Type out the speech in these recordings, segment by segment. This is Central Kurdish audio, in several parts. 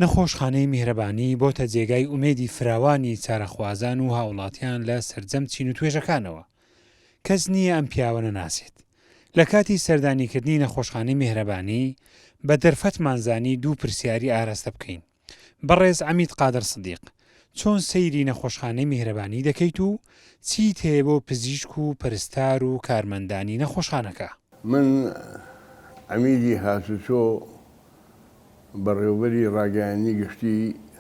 نەخۆشخانەی میهرەبانی بۆتە جێگای ئومێدی فراوانی چارەخوازان و هاوڵاتیان لە سەرجەم چین و توێژەکانەوە. کەس نییە ئەم پیاوە نەناسێت. لە کاتی سەردانیکردنی نەخۆشخانەی میهرەبانی، بە دەرفەتمان زانی دوو پرسیاری ئاراستە بکەین، بەڕێز عەمید قادر سدیق، چۆن سەیری نەخۆشخانەی میهرەبانی دەکەیت و چیت هەیە بۆ پزیشک و پەرستار و کارمەندانی نەخۆشخانەکە؟ من عەمیدی هاتوچۆ بەڕێوەبەری ڕاگەیاندنی گشتی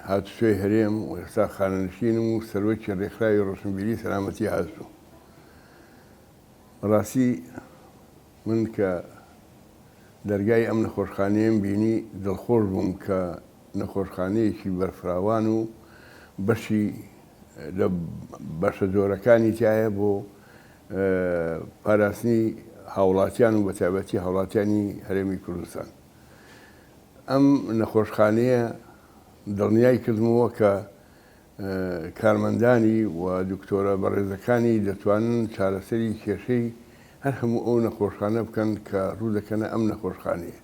هاتوچۆی هەرێم و ئێستا خانەنشینم و سەرۆکی ڕێکخراوی ڕۆشنبیری سەلامەتی هاتوچۆ. بەڕاستی من کە دەرگای ئەم نەخۆشخانەیەم بینی دڵخۆش بووم کە نەخۆشخانەیەکی بەرفراوان و بەشی لە بەشە زۆرەکانی تیایە بۆ پاراستنی هاوڵاتیان و بەتابەتی هاوڵاتیانی هەرێمی کوردستان ئەم نەخۆشخانەیە دڵنیای کردمەوە کە کارمەندانی و دکتۆرە بەڕێزەکانی دەتوانن چارەسەری کێشەی هەر هەموو ئەو نەخۆشخانە بکەن کە ڕوو دەکەنە ئەم نەخۆشخانەیە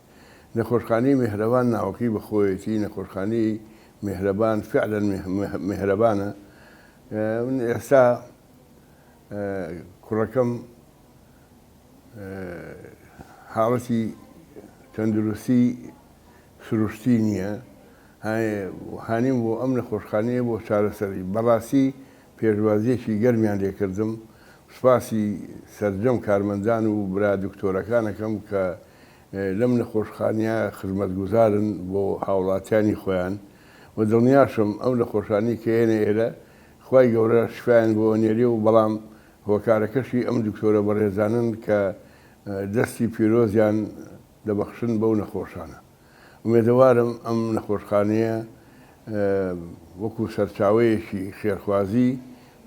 نەخۆشخانەی مێهرەبان ناوەکەی بە خۆیەتی، نەخۆشخانەی مێهرەبان فعلەن مێهرەبانە. من ئێستا کوڕەکەم حاڵەتی تەندروستی سروشتی نییە، هانیم بۆ ئەم نەخۆشخانەیە بۆ چارەسەری. بەڕاستی پێشوازییەکی گەرمیان لێ کردم، سوپاسی سەرجەم کارمەندان و برا دکتۆرەکان ئەکەم کە لەم نەخۆشخانەیە خزمەتگوزارن بۆ هاوڵاتیانی خۆیان و دڵنیاشم ئەو نەخۆشانەی کە یەنە ئێرە خوای گەورە شفایان بۆ ئەنێرێ و بەڵام هۆکارەکەشی ئەم دکتۆرە بەڕێزانەن کە دەستی پیرۆزیان دەبەخشن بەو نەخۆشانە ئومێدەوارم ئەم نەخۆشخانەیە وەکو سەرچاوەیەکی خێرخوازی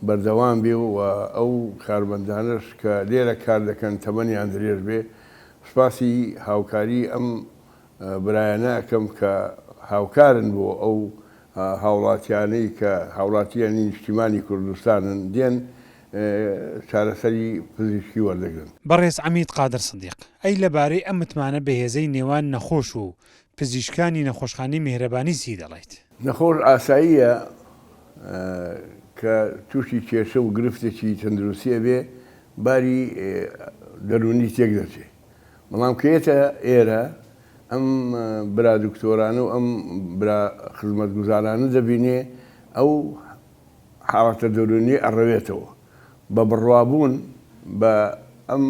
بەردەوام بێ و ئەو کارمەندانەش کە لێرە کار دەکەن تەمەنیان درێژ بێ سپاسی هاوکاری ئەم برایانە ئەکەم کە هاوکارن بۆ ئەو هاوڵاتیانەی کە هاوڵاتیانی نیشتیمانی کوردستانن دێن چارەسەری پزیشکی وەردەگرن. بەڕێز عەمید قادر سدیق، ئەی لەبارەی ئەم متمانە بەهێزەی نێوان نەخۆش و پزیشکانی نەخۆشخانەی میهرەبانی چی دەڵێیت؟ نەخۆش ئاساییە کە تووشی کێشە و گرفتێکی تەندروستی ئەبێ باری دەروونی تێک دەچێ بەڵام کە یەتە ئێرە ئەم برا دکتۆرانە و ئەم برا خزمەتگوزارانە دەبینێ ئەو حاڵەتە دەروونیە ئەڕەوێتەوە بە بڕوابوون بە ئەم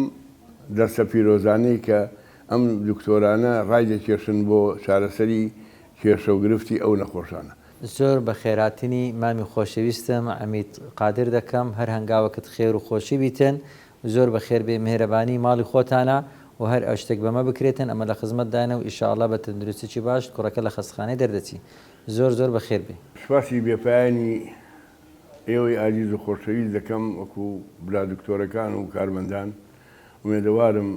دەرسە پیرۆزانەی کە ئەم دکتۆرانە ڕایدەکێشن بۆ چارەسەری کێشە و گرفتی ئەو نەخۆشانە. زۆر بە خێراتنی مامی خۆشەویستم عەمید قادر دەکەم هەر هەنگاوەکت خێر و خۆشی بیتن و زۆر بە خێر بێ مێهرەبانی ماڵی خۆتانە و هەر ئەشتەک بەمە بکرێتن ئەمە لە خزمەت دانە و ئیشاڵا بە تەندروستیی باشت کوڕەکە لە خەستخانەی دەردەچی زۆر زۆر بە خێر بێ. سپاسی بێ پایانی ئێوەی ئازیز و خۆشەویست دەکەم وەکو برا دکتۆرەکان و کارمەندان ئومێدەوارم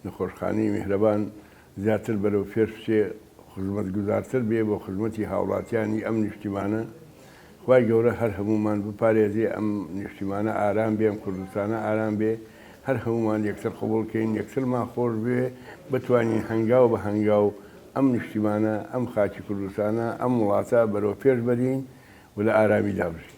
نەخۆشخانەی میهرەبان زیاتر بەرەو پێش بچێ خوزمەتگوزارتر بێ بۆ خوزمەتی هاوڵاتیانی ئەم نیشتیمانە خوای گەورە هەر هەموومان بپارێزێ ئەم نیشتیمانە ئارام بێ ئەم کوردستانە ئارام بێ هەر هەموومان یەکتر قبوڵ کەین یەکترمان خۆش بوێ بتوانین هەنگاو بە هەنگاو ئەم نیشتیمانە ئەم خاکی کوردستانە ئەم وڵاتە بەرەو پێش بەرین و لە ئارامیدا بژین.